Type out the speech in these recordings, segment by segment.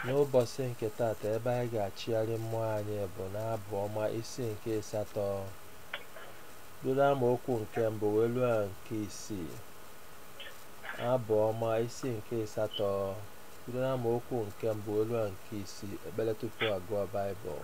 N'ụbọchị nke taata ebe anyị ga-achịgharị mmụọ anyị bụ n'abụ ọma isi nke ịsatọ bido amaokwu nke mbụ wee ruo na nke isii abụ ọma isi nke ịsatọ bido n'amaokwu nke mbụ wee ruo na nke isii ekpere tupu agụọ baịbụl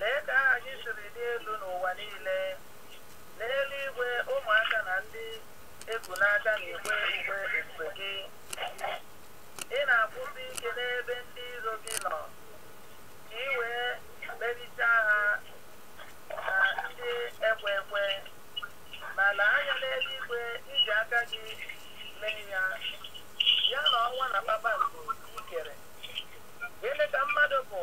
Lee ka aha gị siri dị elu n'ụwa niile. N'eluigwe, ụmụaka na ndị e ku n'aka na-ekwe ukwe ebube gị. Ị na-akwụsị ike n'ebe ndị iro gị nọ, ka i wee merichaa ha na ndị ekwe ekwe. Ma lee anya n'eluigwe, i ji aka gị mee ya, ya na ọnwa na kpakpando i kere. Gịnị ka mmadụ bụ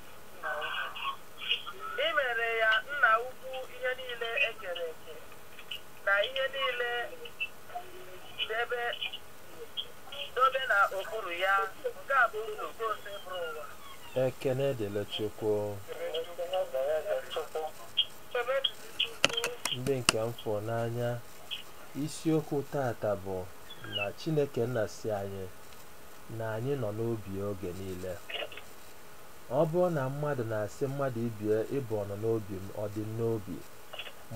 ekene dịrị chukwu ndị nke m fụrụ n'anya isiokwu taata bụ na chineke nna sị anyị na anyị nọ n'obi oge niile Ọ bụrụ na mmadụ na-asị mmadụ ibie ị bụ ọnọ n'obi m, ọ dị m n'obi,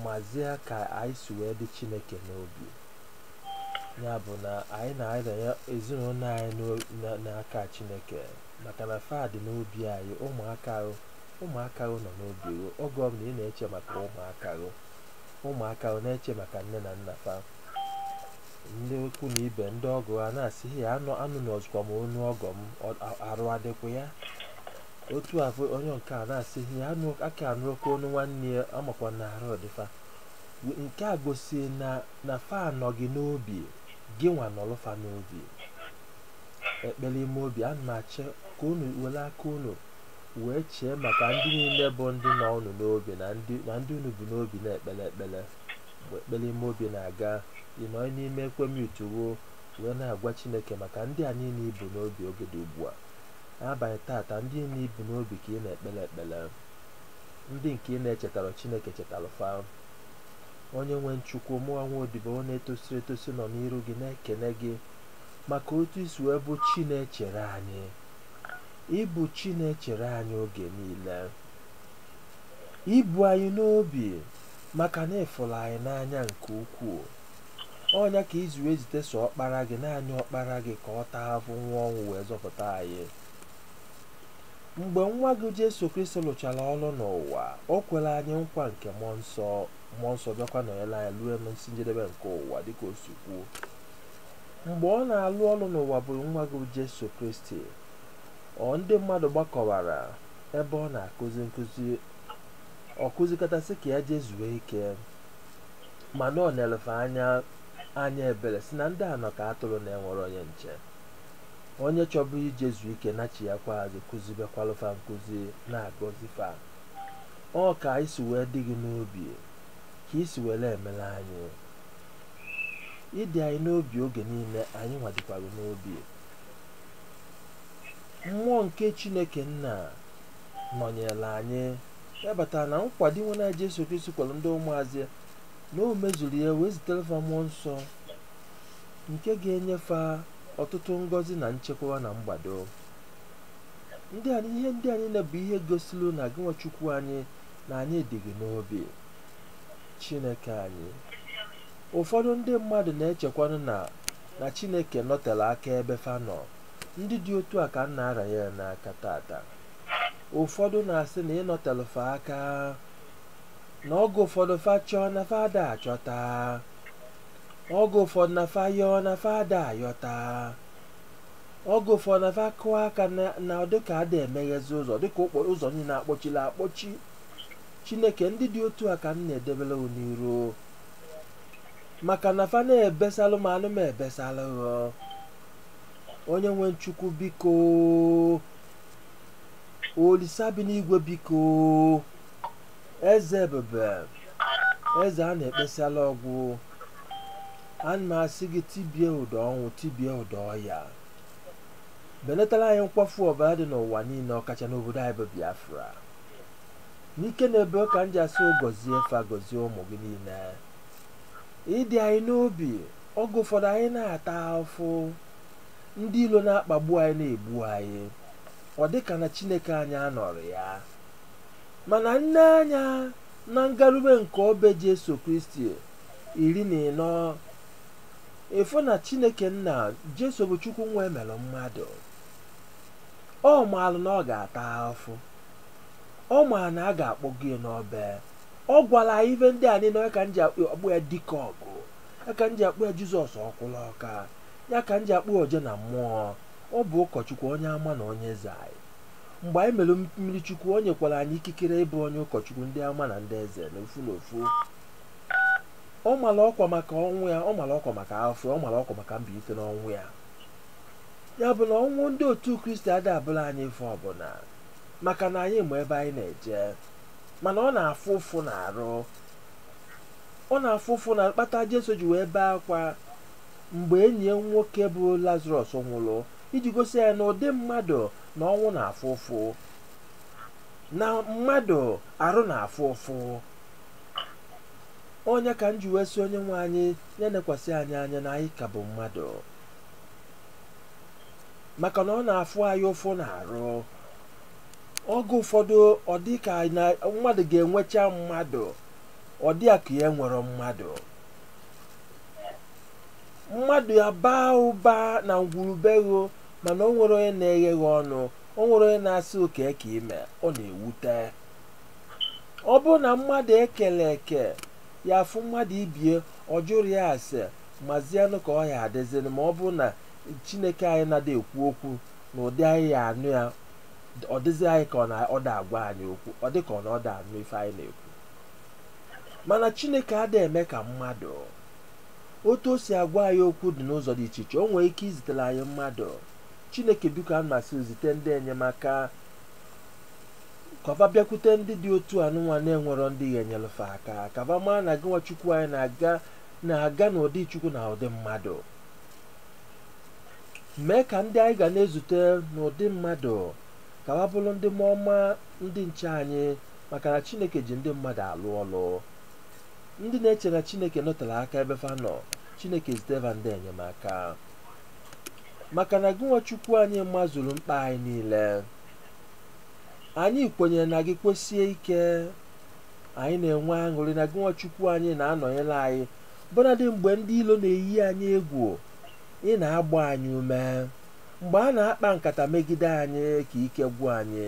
mazịa ka anyị si wee dị Chineke n'obi. Ya bụ na anyị na-aranye ezinụlọ anyị n'o- na- n'aka Chineke maka na fa dị n'obi anyị, ụmụaka ahụ ụmụaka ahụ nọ n'obi gị. Oge ọ bụla ị na-eche maka ụmụaka ahụ, ụmụaka ahụ na-eche maka nne na nna fa. ndị ikwu na ibe ndị ọgọ a na-asị ya anụ anụzukwa m onu ọgọ m ọ- a- arụ adịkwa ya otu a bụ onye nke a na-asị ya anụ aka anụrọkwa onu nwanne ya amakwa na arụ dị fa nke a gosi na na fa anọ gị n'obi gịnwa nọlụ fa n'obi ekpere ime obi ana m achọ ka unu were aka unu wee chee maka ndị niile bụ ndị nọ unu n'obi na ndị na ndị unu bu n'obi na-ekpere ekpere mgbe ekpere ime obi na-aga ị nọrọ n'ime ekwem yutuwo wee na-agwa chineke maka ndị a niile i bu n'obi oge dị ugbu a n'abalị taata ndị niile i bu n'obi ka ị na-ekpere ekpere ndị nke ị na-echetara chineke chetara fa onye nwe m chukwu mụnwa odibo na-etosirọ etosi nọ n'iru gị na-ekene gị maka otu i si wee bụ chi na-echere anyị ị bụ chi na-echere anyị oge niile i bu anyị n'obi maka na ị fụrụ anyị n'anya nke ukwuu ọ nya ka i ji wee zite sọ ọkpara gị naanị ọkpara gị ka ọ taa afụfụ nwụa ọnwụ wee zọpụta anyị mgbe nwa gị jesu kristi lụchara ọrụ n'ụwa o kwere anyị nkwa nke mmụọ nsọ bịakwa nọnyere anyị ruo n'isi njedebe nke ụwa dịka o si kwuo mgbe ọ na-alụ ọrụ n'ụwa bụ nwa gị jesu kristi ọra ndị mmadụ gbakọwara ebe ọ na-akụzi nkụzi ọ kụzikata sị ka ya jee zuo ike mana o nelu fa anya ebere sị na ndị a nọ ka atụrụ na-enwerọ onye nche onye chọbụ ije zuo ike nachiakwa azụ kụzibekwalụ fa nkụzi na-agọzi fa ọ ka anyị si wee dị gị n'obi ka i si wee emere anyị ị dị anyị n'obi oge niile anyị nwa dịkwa gị n'obi mmụọ nke chineke nna nọnyere anyị ya batara na nkwa dinwenụ anyị Jesu Kristi kwere ndị ụmụazụ ya na o mezuru ya wee zitere fa mmụọ nsọ nke ga-enye fa ọtụtụ ngọzi na nchekwa na mgbado ihe ndị a niile bụ ihe gosiri na gịnwa Chukwu anyị na anyị dị gị n'obi Chineke anyị ụfọdụ ndị mmadụ na-echekwanụ na na Chineke nọtere aka ebe fa nọ ndị dị otu a ka m na-aranye n'aka taata ụfọdụ na-asị na ị nọtelụ fa aka na oge ụfọdụ fa chọọ na fa ada achọta oge ụfọdụ na fa yọọ na fa ada ayọta oge ụfọdụ na fa kụọ aka na ọ dịka ada emeghezi ụzọ dịka okporo ụzọ niile akpọchili akpọchi chineke ndị dị otu a ka m na-edebere gị n'iru maka na fa na-ebesalụ mmanụ m ebesalụ onye nwe m chukwu biko olisa bi n'igwe biko eze ebube eze a na-ekpesala ọgwụ ana m asị gị tibie ụdọ ọnwụ tibie ụdọ ọya belatara anyị nkwafu ọbara dị n'ụwa niile ọkacha n'obodo anyị bụ biafra n'ike na ebe ka m ji asị gọzie fa gọzie ụmụ gị niile ị dị anyị n'obi oge ụfọdụ anyị na-ata afụfụ ndị ilo na-akpagbu anyị na-egbu anyị ọ dị ka na chineke anyị anọrọ ya mana i nee anya na ngarube nke obe jesu kristi iri na ịnọ ị fụ na chineke nna jesu bụ chukwu nwa e mere mmadụ ọ maalụ na ọ ga-ata afụfụ ọ maa na a ga-akpọgo ya n'obe ọ gwara anyị ife ndị a niile ka m ji akpọ ya dike ọgụ ya ka m ji akpọ ya jizọs ọkwụlụ ọka ya ka m ji akpọ oje na mmụọ ọ bụ ụkọchukwu onye ama na onye eze anyị mgbe anyị mere mmiri chukwu o nyekwara anyị ikikere ịbụ onye ụkọchukwu ndị ama na ndị eze na ofu na ofu ọ mara ọkwa maka ọnwụ ya ọ mara ọkwa maka afụfụ ọ mara ọkwa maka mbilite n'ọnwụ ya ya bụ na ọnwụ ndị otu kristi ada abụlụ anyị ife ọbụla maka na anyị ma ebe anyị na-eje mana ọ na-afụ ụfụ na arụ ọ na-afụ ụfụ nya kpata jesu ji wee bee akwa mgbe enyi ya nwoke bụ lazarọs nwụrụ iji gosi anyị na ụdị mmadụ na ọnwụ na-afụ ụfụ na mmadụ arụ na-afụ ụfụ ọ nya ka m ji wee sị onye nwe anyị ya nekwasị anyị anya na anyị ka bụ mmadụ maka na ọ na-afụ anyị ụfụ na arụ oge ụfọdụ ọ dị ka na mmadụ ga-enwecha mmadụ ọ dị ka ya enwerọ mmadụ mmadụ ya baa ụba na ngwuru be gị mana o nwerọ onye na-eghe gị ọnụ o nwerọ onye na-asị ọ kee ka ị mee ọ na-ewute ọ bụrụ na mmadụ e kele eke ya afụ mmadụ ibie ọ jụrọ ya ase mazienụ ka ọ ya adịziri ma ọ bụrụ na chineke anyị na-ada ekwu okwu na ụdị anyị ya anụ ya ọ dịzi anyị ka ọ na ọ da agwa anyị okwu ọ dị ka ọ na ọ da anụ ife anyị na-ekwu mana chineke ada eme ka mmadụ otu o si agwa anyị okwu dị n'ụzọ dị iche iche o nwere ike izitere anyị mmadụ chineke biko ana m asị zite ndị enyemaka ka va bịakwute ndị dị otu anụnwa na-enwerọ ndị ga-enyelụ fa aka ka va mara na gịnwa chukwu anyị na-aga na-aga n'ụdị chukwu na ụdị mmadụ mee ka ndị anyị ga na-ezute n'ụdị mmadụ ka va bụrụ ndị mmụọ ọma ndị nche anyị maka na chineke ji ndị mmadụ alụ ọlụ ndị na-eche na chineke nọtere aka ebe fa nọ chineke zite va ndị enyemaka maka na gịnwa chukwu anyị mazuru mkpa anyị niile anyị kwenyere na gị kwesie ike anyị na-enwe aṅụrị na gịnwa chukwu anyị na-anọnyere anyị bụnadị mgbe ndị ilo na-eyi anyị egwu ị na-agba anyị ume mgbe a na-akpa nkata megide anyị ka ike gwụ anyị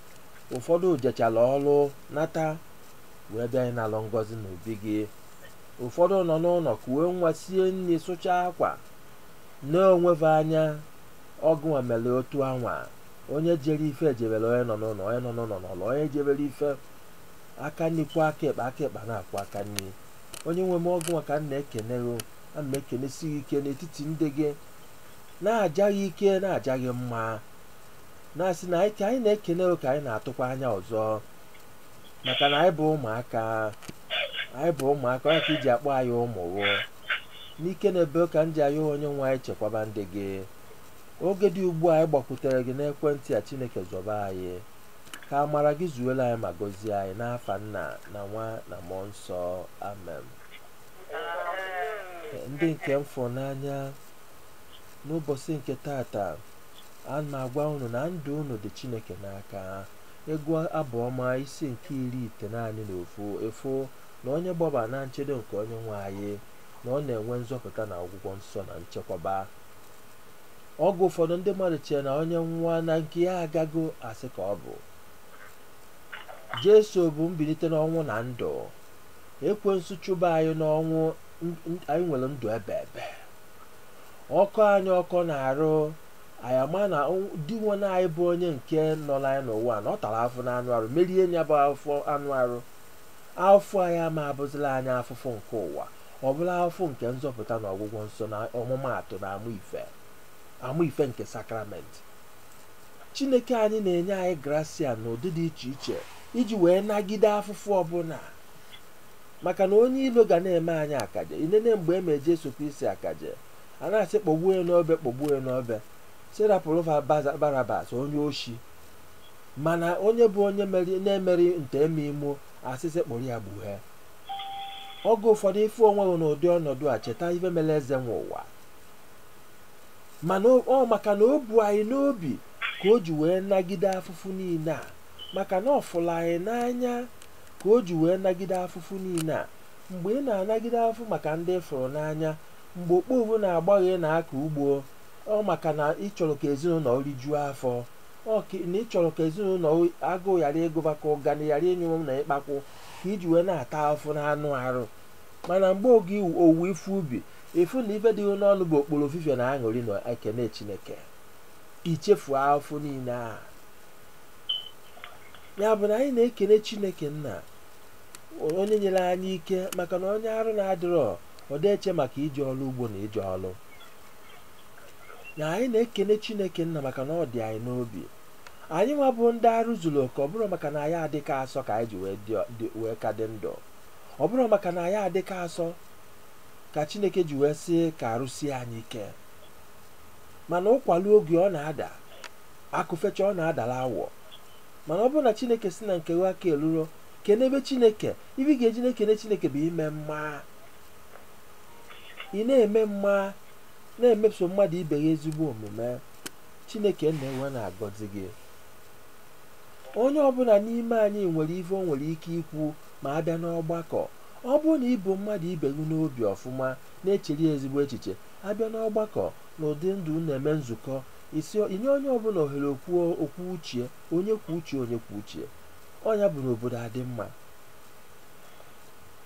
ụfọdụ jechala ọrụ nata wee bịa ịnalụ ngọzi n'obi gị ụfọdụ nọ n'ụlọ kuwe nwa sie nri sụchaa akwa na-onweve anya ọ gịnwa mere otu anwa onye jere ije ejebere onye nọ n'ụlọ onye nọ n'ụlọ nọlụ onye jebere ije aka nri kwọọ aka ekpe aka ekpe na-akwọ aka nri onye nwe m ọ gịnwa ka m na-ekene gị ana m ekenesi gị ike n'etiti ndị gị na-aja gị ike na-aja gị mma na-asị na anyị ka anyị na-ekene gị ka anyị na-atụkwa anya ọzọ maka na anyị bụ ụmụaka anyị bụ ụmụaka ọ nya ka e ji akpọ anyị ụmụ gị n'ike na ebe ka m ji ayọ onye nwe anyị chekwaba ndị gị oge dị ugbu a anyị gbakwutere gị n'ekwentị a chineke zọba anyị ka amara gị zuola anyị ma gọzie anyị n'afa nna na nwa na mmụọ nsọ amen ndị nke m fụrụ n'anya n'ụbọchị nke tata a na-agwa unu na ndụ unu dị chineke n'aka ị gụọ abụ ọma isi nke iri itenaanị na ofu ị fụ na onye gbaba na nchedo nke onye nwe anyị na ọ na-enwe nzọpụta na ọgwụgwọ nsọ na nchekwaba oge ụfọdụ ndị mmadụ chee na onye nwụa na nke ya agago asị ka ọ bụ jesu bụ mbilite n'ọnwụ na ndụ ekwensu chụba anyị n'ọnwụ anyị nwere ndụ ebe ebe ọ kọọ anyị ọkọ n'arụ anyị ama na dinwenụ anyị bụ onye nke nọrọ anyị n'ụwa na ọ tara afụfụ n'anụ arụ merie ya bụ afụfụ anụ arụ afụfụ anyị ama abụzịrị anyị afụfụ nke ụwa ọ bụrụ afụfụ nke nzọpụta na ọgwụgwọ nsọ na ọmụmaatụ na amụ ife amụ ife nke sakramenti chineke anyị na-enye anyị grasia n'ụdị dị iche iche iji wee nagide afụfụ ọbụla maka na onye ilo ga na-eme anyị akaje i nene mgbe e mee jesu kristi akaje a na-asị kpọgbuo ya n'obe kpọgbuo ya n'obe sị rapụrụ fa Baza- barabas onye oshi mana onye bụ onye meri- na-emerọ nta eme imo a sị sị kpụrụ ya gbue oge ụfọdụ ị fụ onwe gị n'ụdị ọnọdụ a cheta ife mere eze nwe ụwa mana o- ọ maka na o bu anyị n'obi ka o ji wee nagide afụfụ niile a maka na ọ fụrụ anyị n'anya ka o ji wee nagide afụfụ niile a mgbe ị na-anagide afụfụ maka ndị ị fụrụ n'anya mgbe okpovu na-agba gị na-akọ ugbo ọ maka na ị chọrọ ka ezinụlọ rijuo afọ ọ ka- na ị chọrọ ka ezinụlọ agụụ ghara ịgụ fa ka ụganị ghara ịnyụ unu ikpakwụ ka i ji wee na-ata afụfụ n'anụ arụ mana mgbe oge iwu- owuwe ife ubi ị fụ na ife dị gị n'ọnụ bụ okporo ofifie na aṅụrị na ekene chineke i chefuo afụfụ niile ahụ ya bụ na anyị na-ekene chineke nna onye nyere anyị ike maka na onye arụ na-adịrọ ọ dị eche maka ije ọrụ ugbo na ije ọrụ na anyị na-ekene chineke nna maka na ọ dị anyị n'obi anyị nwa bụ ndị arụ zuru oke ọ bụrọ maka na anyị adịka asọ ka anyị ji wee dị- dị- wee ka dị ndụ ọ bụrọ maka na anyị adịka asọ ka chineke ji wee sị ka arụ sie anyị ike mana ụkwa luo oge ọ na-ada akụ fecha ọ na-adala awọ mana ọ bụrụ na chineke si na nke gị aka eluro kenebe chineke ife ị ga-eji na-ekene chineke bụ ime mma ị na-eme mma na-emeso mmadụ ibe gị ezigbo omume chineke nna ewee na-agọzi gị onye ọbụla n'ime anyị nwere ife o nwere ike ikwu ma a bịa n'ọgbakọ ọ bụrụ na i bu mmadụ ibe gị n'obi ọfụma na-echere ya ezigbo echiche a bịa n'ọgbakọ na ụdị ndị na-eme nzukọ isi i nye onye ọbụla ohere okwu o kwuo uche ya onye kwuo uche ya onye kwuo uche ya ọ ya bụ na obodo adị mma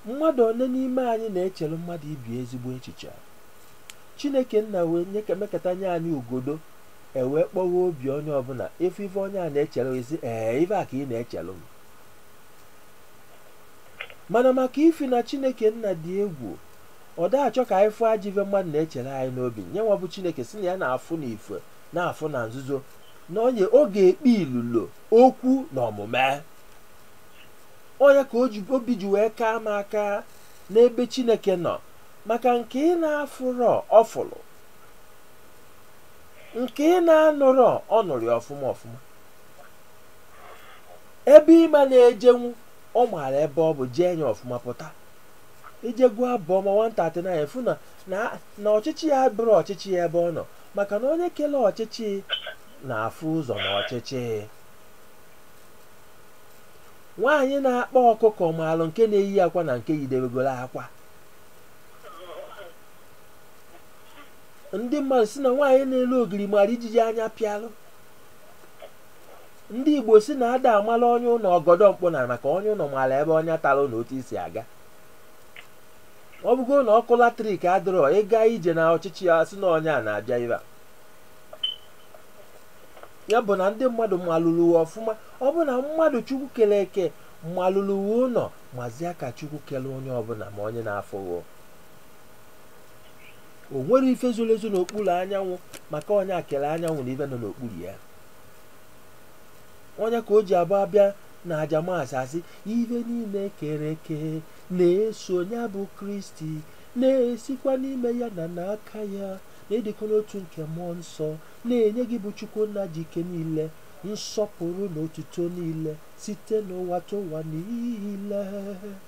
mmadụ one n'ime anyị na-echere mmadụ ibe ya ezigbo echiche chineke nna wee mekata nye anyị igodo e wee kpọwa obi onye ọbụla ị fụ ife onye a na-echere ị sị ee ife a ka ị na-echere m mana maka ifi na chineke nna dị egwu ọ da achọ ka anyị fụ ajọ ife mmadụ na-echere anyị n'obi nya nwa bụ chineke si na ya na-afụ na ife na-afụ na nzuzo na onye ọ ga-ekpe ilolo okwu na omume ọ nya ka obi ji wee kaa m aka n'ebe chineke nọ maka nke ị na-afụrọ ọ fụrụ nke ị na-anụrọ ọ nụrụ ya ọfụma ọfụma ebe ị ma na-ejenwu ọ maara ebe ọ bụ jee nya ọfụma pụta i jee gụọ abụ ọma 139 ị fụ na na- na ọchịchị abụrọ ọchịchị ebe ọ nọ maka na onye kele ọchịchị na-afụ ụzọ n'ọchịchị nwaanyị na-akpa ọkụkọ maalụ nke na-eyi akwa na nke yidebegoro akwa ndị mmadụ si na nwaanyị na-ele ogiri mara ijiji anya pịalụ ndị igbo si na a da amala onye ụlọ ọgọdọ mkpụ na ana maka onye ụlọ mara ebe ọnya tara na otu i si aga ọ bụgo na ọkụ latrik adịrọ ị gaa ije na ọchịchị a sị na onye a na-abịa ebe a ya bụ na ndị mmadụ malụrụ gị ọfụma ọ bụ na mmadụ chukwu kere eke malụrụ gị ụlọ mazia ka chukwu kere onye ọbụla ma onye na-afụghị o nwere ife zoro ezo n'okpuru anyanwụ maka ọ nya kere anyanwụ na ife nọ n'okpuru ya ọ nya ka o ji abụ a bịa na aja mass a sị ife niile e kere eke na-eso ya bụ kristi na-esikwa n'ime ya na n'aka ya n'ịdịkọ n'otu nke mmụọ nsọ na-enye gị bụ chukwu nna ji ike niile nsọpụrụ na otuto niile site n'ụwatụwa niile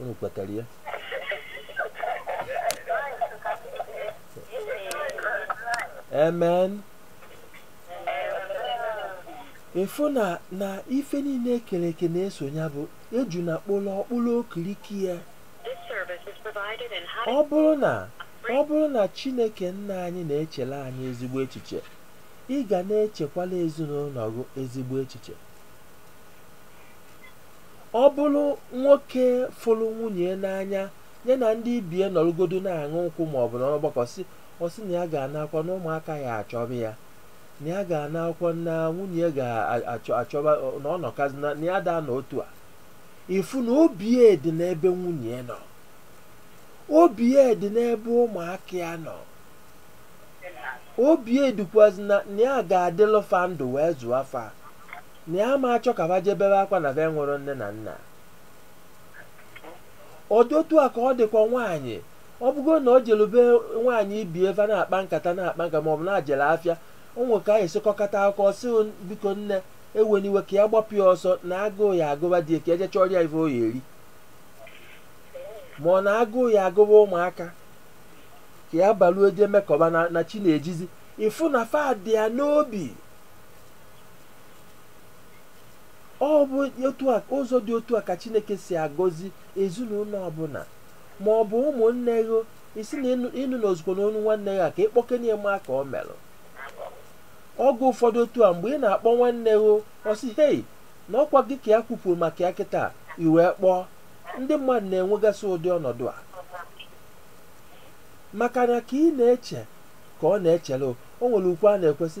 unu kwetara ya amen ịfụ na na ife niile ekere eke na-eso ya bụ ejuna kpụrụ ọ kpụrụ okiriko ya ọ bụrụ na chineke nna anyị na-echere anyị ezigbo echiche ị ga na-echekwala ezinụlọ gị ezigbo echiche ọ bụrụ nwoke fụrụ nwunye n'anya ya na ndị ibe ya nọrụgodu na-aṅụ nkwụ ma ọ bụ n'ọgbakọ ọ sị na ya ga-anakwọ na ụmụaka ya achọba ya na ya ga-anakwọ na nwunye ya ga-achọba na ọ nọkazina na ya ada anọ otu a ịfụ na obi ya dị n'ebe nwunye ya nọ obi ya dị n'ebe ụmụaka ya nọ obi ya dịkwazi na ya ga-adịlụ fa ndụ wee zụọ fa na ya ma achọ ka ba je bebe akwa na be enwerọ nne na nna ọ dị otu a ka ọ dịkwa nwaanyị ọ bụgo na ọ jelu be nwaanyị ibe ya be na-akpa nkata maọbụ na o jele afịa o nwee ka e si kọkata akụkọ ọ sị biko nne ewena iwe ka ya gbapụ ya ọsọ na agụụ ya-agụba di ya ka ya je chọrọ ya ife ọ ya-eri ma ọ na agụụ ya-agụba ụmụaka ka ya baluo je mekọba na chi na-ejizi ịfụ na fa dị ya n'obi ọ bụ ụzọ dị otu a ka chineke si agọzi ezinụlọ ọbụla ma ọ bụ ụmụnne gị ị sị na ị nụrọzikwanụ onu nwanne gị a ka ị kpọkene ya ma ka ọ merụ oge ụfọdụ otu a mgbe ị na-akpọ nwanne gị ọ sị hei na ọ kwa gị ka ya kwupụrụ maka ya kịta i wee kpọọ ndị mmadụ na-enwegasị ụdị ọnọdụ a maka na ka ị na-eche ka ọ na-echere o nwere okwu a na-ekwu sị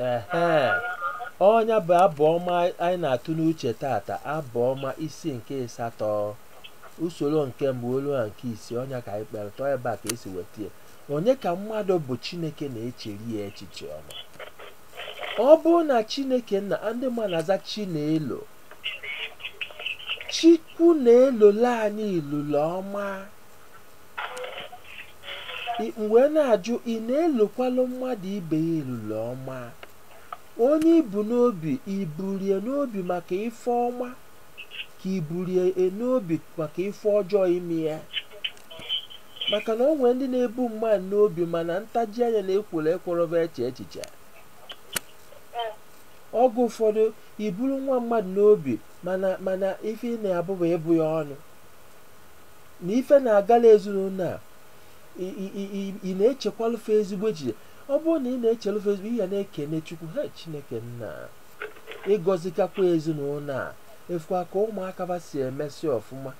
ee ọ nya bụ abụ ọma anyị na-atụ n'uche taata abụ ọma isi nke ịsatọ usoro nke mbụ luo na nke isii ọ nya ka anyị kpere tọọ ebe a ka e si weta ya onye ka mmadụ bụ chineke na-echere ya echiche ọma ọ bụrụ na chineke nna ndị mmadụ na-aza chinelo Chukwu na-elole anyị ilule ọma. M wee na-ajụ ị na-elokwalụ mmadụ ibe gị ilule ọma. Onye i bu n'obi i buri e n'obi maka ife ọma ka i buri e n'obi maka ife ọjọọ ime ya. Maka na o nwere ndị na-ebu mmadụ n'obi mana ntaji anya na ekworo ekwerọ va eche echiche. Oge ụfọdụ i buru nwa mmadụ n'obi mana mana ife ị na-abụ bụ ịbụ ya ọnụ na ife na-agala ezinụlọ a i- i- i- i- ị na-echekwalụ fa ezigbo echiche ọ bụrụ na ị na-echelụ fa ezigbo ihe na-ekene chukwu ha chineke nna ị gọzikakwa ezinụlọ a a fụkwa ka ụmụaka fa si emesi ọfụma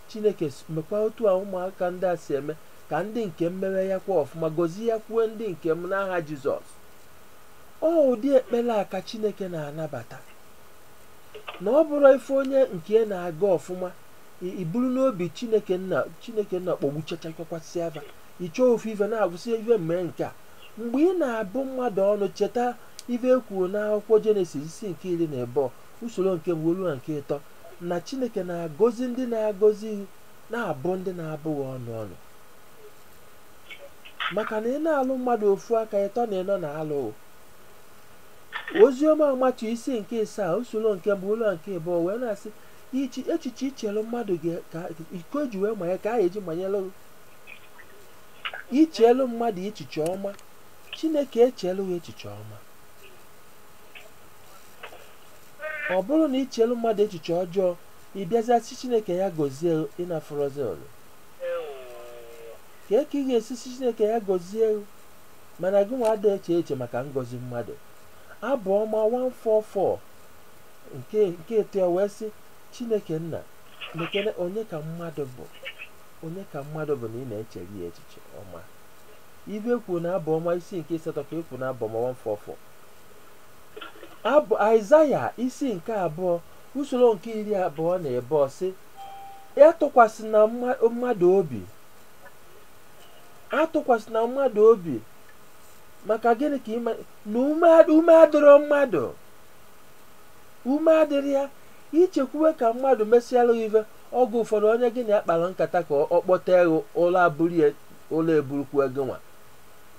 chineke s- nekwa otu a ụmụaka ndị a si eme ka ndị nke m mewe ya kwa ọfụma gọziekwuo ndị nke m n'aha jizọs Ọ ụdị ekpere a ka Chineke na-anabata. Na ọ bụrụ ife onye nke ya na-aga ọfụma, i- i buru n'obi Chineke nna Chineke nna kpọgbuchachakwakwasịa fa. Ị chọọ ofu ife na-agwụsị ife mee nke a. Mgbe ị na-abụ mmadụ ọnụ cheta ife e kwuru n'akwụkwọ Jenesis isi nke iri na abụọ usoro nke mbụ ruo na nke ịtọ na Chineke na-agọzi ndị na-agọzi na-abụ ndị na-abụ gị ọnụ ọnụ. maka na ị na-alụ mmadụ ofu aka ịtọ na ịnọ na-alụ oziọma matiu isi nke ịsaa usoro nke mbụ ruo nke ịbụọ wee na-asị ichi echiche i chere mmadụ ga- ka- iko i ji wee manye ka a ya-eji manyelụ ị i chelu mmadụ echiche ọma chineke echelu gị echiche ọma ọ bụrụ na i chelu mmadụ echiche ọjọọ ị bịazia sị chineke ya gọzie ị na-afụrọzi ọrụ kee ka ị ga-esi sị chineke ya gọzie gị mana gị nwa ada eche eche maka ngọzi mmadụ abụ ọma 144 nke nke ịtọ ya wee sị chineke nna nekene onye ka mmadụ bụ onye ka mmadụ bụ na ị na-echere ya echiche ọma ife e kwuru na abụ ọma isi nke asatọ ka e kwu na abụ ọma 144 abụ aịzaya isi nke abụọ usoro nke iri abụọ na abụọ sị atụkwasịna mma- mmadụ obi atụkwasịna mmadụ obi maka gịnị ka ị ma na ume ad- ume adịrọ mmadụ ume adịrọ ya i chekwuwe ka mmadụ mesịalụ gị ife oge ụfọdụ onye gị na ya kpara nkata ka ọ kpọte gị ụla eburu ya ụla eburukwu gị nwa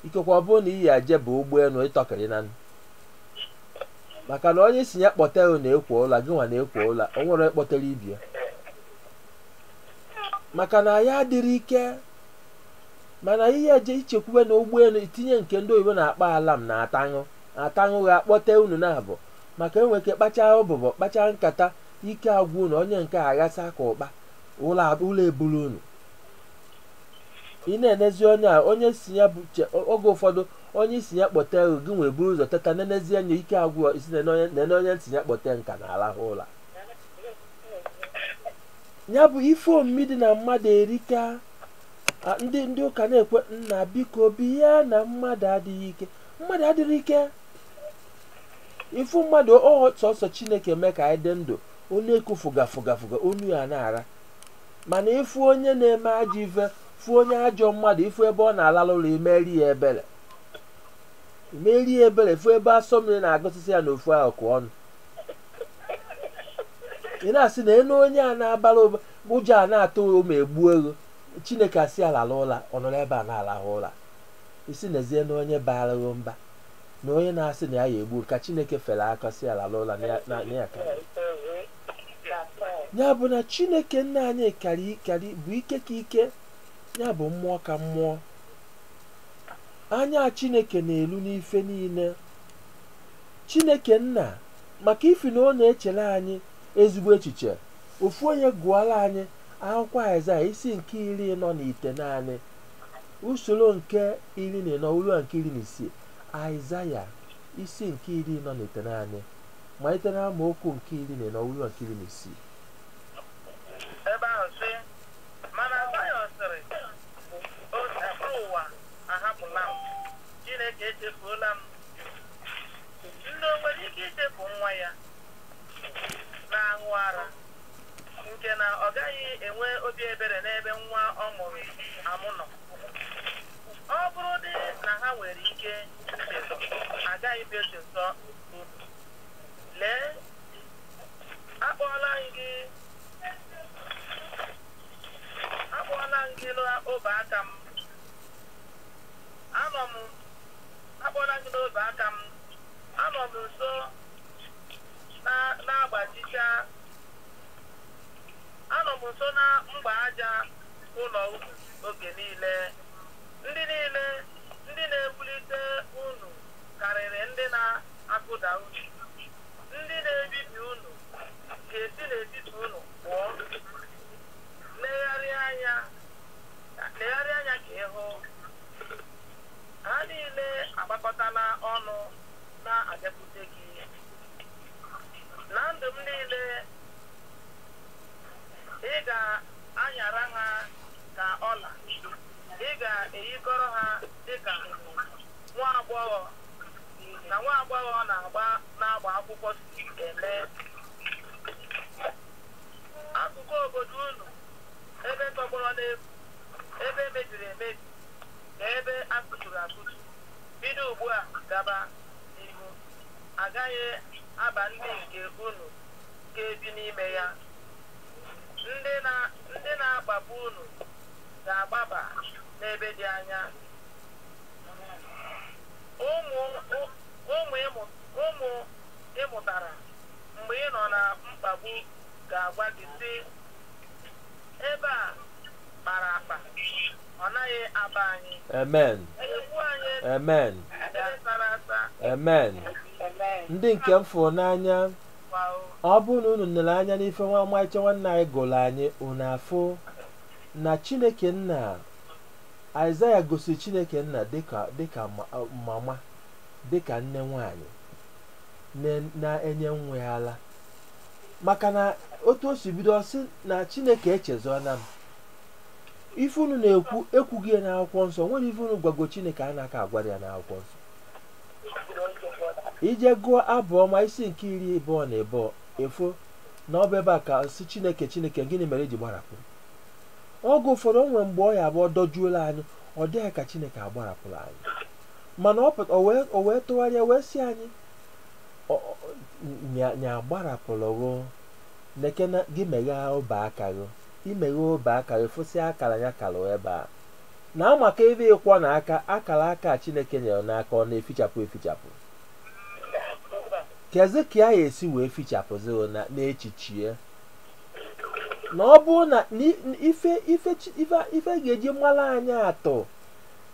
ikekwe ọ bụrụ na ị ya-eje ịba ụgbọelu ị tọkịrị na maka na onye ị sị ya kpọte unu na-ekwo ụla gị nwa na-ekwo ụla o nwerọ onye kpọtara ibe ya maka na ya adịrọ ike mana ihe eje ichekwube na ụgbọelu itinye nke ndị oyibo na-akpọ alam na ataṅụ ataṅụ ga-akpọte unu na abụ maka e nwere ike kpachaa ụbụbọ kpachaa nkata ike agwụ unu onye nke a ghasa ka ụkpa ụla ab- ụla eburu unu ị na-enezi onye a onye sị ya bụ che- oge ụfọdụ Onye ị sị ya kpọtee gị, gị ewee buru ụzọ teta, nenezie anya ike agwụ, ị sị nene onye m sị ya kpọtee m ka na-alahụ ụla. Ya bụ ife omimi dị na mmadụ erika. A, Ndị ndị ụka na-ekwe nna biko bịa na mmadụ adịghị ike. Mmadụ adịrọ ike. Ị fụ mmadụ ọ sọsọ Chineke mee ka anyị dị ndụ, ọ na-eku fụga fụga fụga, onu ya na-ara. mana ị fụ onye na-eme ajọ ife fụ onye ajọ mmadụ ị fụ ebe ọ na-alahụ ụla i meere ya ebere fụ ebe asọ mmiri na-agụsịsị ya n'ofu akụkụ ọnụ ị na-asị nenụ onye a na-abara mba ụjọ a na-atụ ụlọ ma egbuo ego chineke asị ya lalụ ụla ọ nọrọ ebe a na-alahụ ụla ị sị nezienụ onye baara gị mba na onye na-asị na ya ya-egbu ka chineke fere aka sị ya lalụ ụla na ya- na na ya ka ya. ya bụ na chineke nna anyị karị bụ ike ka ike ya bụ mmụọ ka mmụọ anya chineke na-elu n'ife niile chineke nna maka ifi na ọ na-echere anyị ezigbo echiche ofu onye gụọla anyị akwụkwọ aịzaya isi nke iri ịnọ na itenaanị usoro nke iri na ịnọ ruo nke iri na isii aịzaya isi nke iri ịnọ na itenaanị malite n'amaokwu nke iri na ịnọ ruo nke iri na isii ebe ahụ sị mana Zayọn sịrị Osebụrụwa ahapụla m Chineke echefuola m nne o nwere ike ichefu nwa ya na-aṅụ ara nke na ọ gaghị enwe obi ebere n'ebe nwa ọ mụrụ amụ nọ ọ bụrụ dị na ha nwere ike ichezọ agaghị m echezọ lee akpọọla akpọọla m gị n'obe aka m akpọọla m gị n'obe aka m anọ m nso na-agbachicha anọ m nso na mgba aja ụlọ unu oge niile ndị niile ndị na-ewulite unu karịrị ndị na-akụda unu. Ndị na-ebibi unu ga-esi n'etiti unu pụọ. Legharịa anya ka ị hụ. Ha niile agbakọtala ọnụ na-abịakwute gị. Na ndụ m niile, ị ga-anyara ha ka ọla. Ị ga-eyikọrọ ha dị ka nwa agbọghọ na nwa agbọghọ ọ na-agba na-agba akwụkwọ si eme akụkụ obodo unu ebe tọgbọrọ n'efu ebe mebiri emebi na ebe akụturu akụtu bido ugbu a gaba n'ihu agaghị aba ndị nke unu ga-ebi n'ime ya ndị na- ndị na-akpagbu unu ga-agbaba n'ebe dị anya ụmụ ị mụtara mgbe ị nọ na mkpagbu ga-agwa gị sị ebe a kpara akpa ọ naghị aba anyị amen nyekwuo anyị amen ebe sara asa amen ndị nke m fụrụ n'anya kwa ọ bụrụ na unu nere anya n'ife nwa ọmarịcha nwanne anyị gụrụ anyị unu afụ na chineke nna Aịzaya gosiri Chineke Nna dịka dịka mama dịka nne nwanyị na-enye nwa ya ala maka na otu o si bido ọ sị na Chineke echezọna m ife unu na-ekwu e kwugo ya n'akwụkwọ nsọ o nwerọ ife unu gwago Chineke a na-aka agwarọ ya n'akwụkwọ nsọ i jee gụọ abụ ọma isi nke iri ịbụọ na ịbụọ ị fụ na ọ bụ ebe a ka a sị Chineke Chineke gịnị mere i ji gbarapụ oge ụfọdụ o nwere mgbe ọ ya-abụ o dojuola anyị ọ dị ka chineke agbarapụla anyị mana ọ pụta o wee o wee tụgharịa wee sị anyị ọ- ọ- nya nya agbarapụrọ nekene gị meghee ọba aka gị i meghee ọba aka gị fụsịa akara ya kalụ ebe a na amaka ebe ị kwọna aka akara aka a chineke nyere n'aka ọ na-efichapụ efichapụ kezi ka ya-esi wee fichapụzi n'echiche na ọ bụ na ife ife ife ife ga-eji mara anyị atụ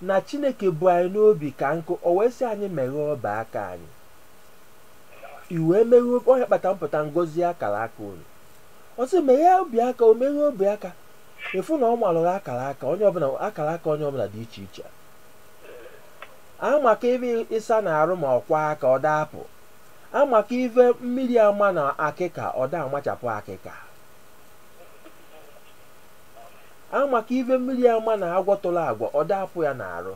na chineke bu anyị n'obi ka nkụ o wee sị anyị meghee ọba aka anyị i wee meghee onye kpata mpụta ngozi akara aka unu ọ sị meghee obi aka o meghee obi aka ị fụ na o nwelụ akara aka onye ọbụla akara aka onye ọbụla dị iche iche a maka ebe ị sana arụ ma kwọọ aka ọ da-apụ amaka ife mmiri amana akịka ọ da-amachapụ akịka amaka ife mmiri amana agwọ tụrụ agwa ọ da-apụ ya n'arụ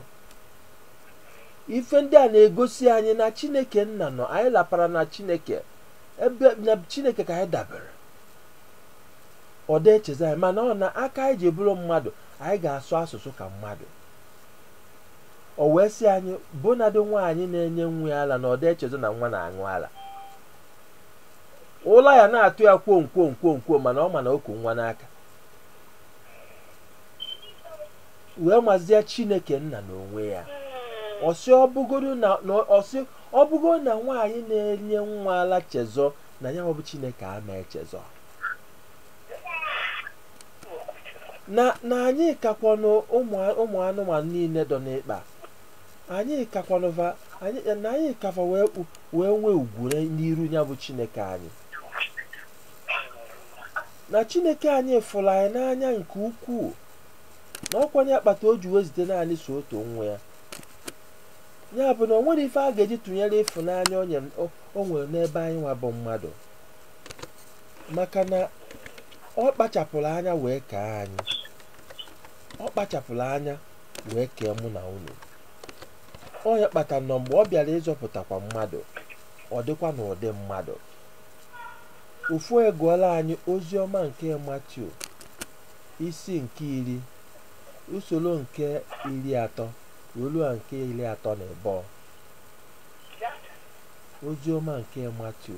ife ndị a na-egosi anyị na chineke nna nọ anyị lapara na chineke ebe na chineke ka anyị dabere ọ da-echezọ anyị mana ọ n'aka anyị ji bụrụ mmadụ anyị ga-asụ asụsụ ka mmadụ o wee sị anyị bụnadị nwaanyị na-enye nwa ya ala na ọ dị echezọ na nwa na-aṅụ ala ụla ya na-atụ ya kwom kwom kwom kwom mana ọ ma na o ku nwa n'aka wee mazie chineke nna na onwe ya ọ sị ọ bụgodu na na ọ sị ọ bụgodu na nwaanyị na-enye nwa ala chezọ na ya bụ chineke ama echezọ na na anyị kakwanụ ụmụ ụmụ anụmanụ niile dọ n'ikpa anyị kakwanụ va anyị na anyị ka fa wee kpu- wee nwee ugwu na- n'iru ya bụ chineke anyị na chineke anyị fụrụ anyị n'anya nke ukwuu na ọ kwanụ ya kpata o ji wee zite naanị sọ otu nwa ya ya bụ na o nwerọ ife a ga-eji tụnyere ịfụnanya o nyere- o- o nwere n'ebe anyị nwa bụ mmadụ maka na ọ kpachapụrụ anya wee kee anyị ọ kpachapụrụ anya wee kee mụ na unu ọ nya kpatara na mgbe ọ bịara ịzọpụtakwa mmadụ ọ dịkwa n'ụdị mmadụ ofu egụọla anyị ozi ọma nke matiu isi nke iri usoro nke iri atọ wee ruo nke iri atọ na ịbụọ ozi ọma nke matiu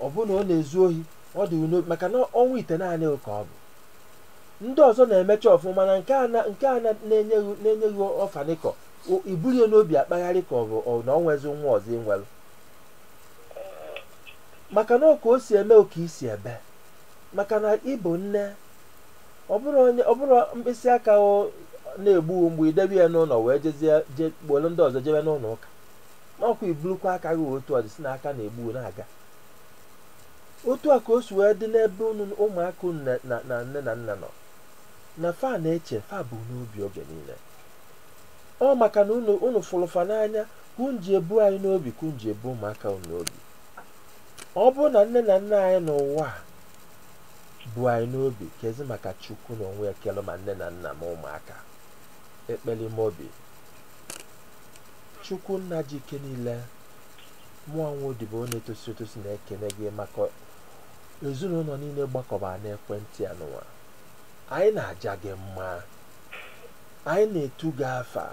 ọ bụ na ọ na-ezu ohi ọ dị n'obi maka na ọnwa itenaanị ka o bu ndị ọzọ na-emecha ọfụma na nke a na- nke a na- na-enyeghị na-enyeghị ọfanikọ i bulu ya n'obi akpagharị ka ọ bụ ọ- na o nwezi nwa ọzọ i nwelu maka na ọ ka o si eme oka isi ebe maka na ị bụ nne ọ bụrụ onye ọ bụrụ mkpịsị aka ọ na-egbu mgbu i debe ya n'ụlọ wee jezie je kpọrọ ndị ọzọ jebe n'ụlọ ụka na ọ kwa i bulukwa aka gị otu ọ dị sị na aka na-egbu na-aga otu a ka o si wee dị n'ebe unu ụmụaka unu na- na na nne na nna nọ na fa na-eche fa bu n'obi oge niile ọ maka na unu unu fụrụ fa n'anya ka unu ji ebu anyị n'obi ka unu ji ebu ụmụaka unu n'obi ọ bụrụ na nne na nna anyị n'ụwa a bu anyị n'obi kezi maka chukwu na onwe ya kere ma nne na nna ma ụmụaka ekpere ime obi chukwu nna ji ike niile mụ nwa odibo na-etosirọ etosi na-ekene gị maka ezinụlọ niile gbakọbara n'ekwentị anụwa anyị na-aja gị mma anyị na-etu gị afa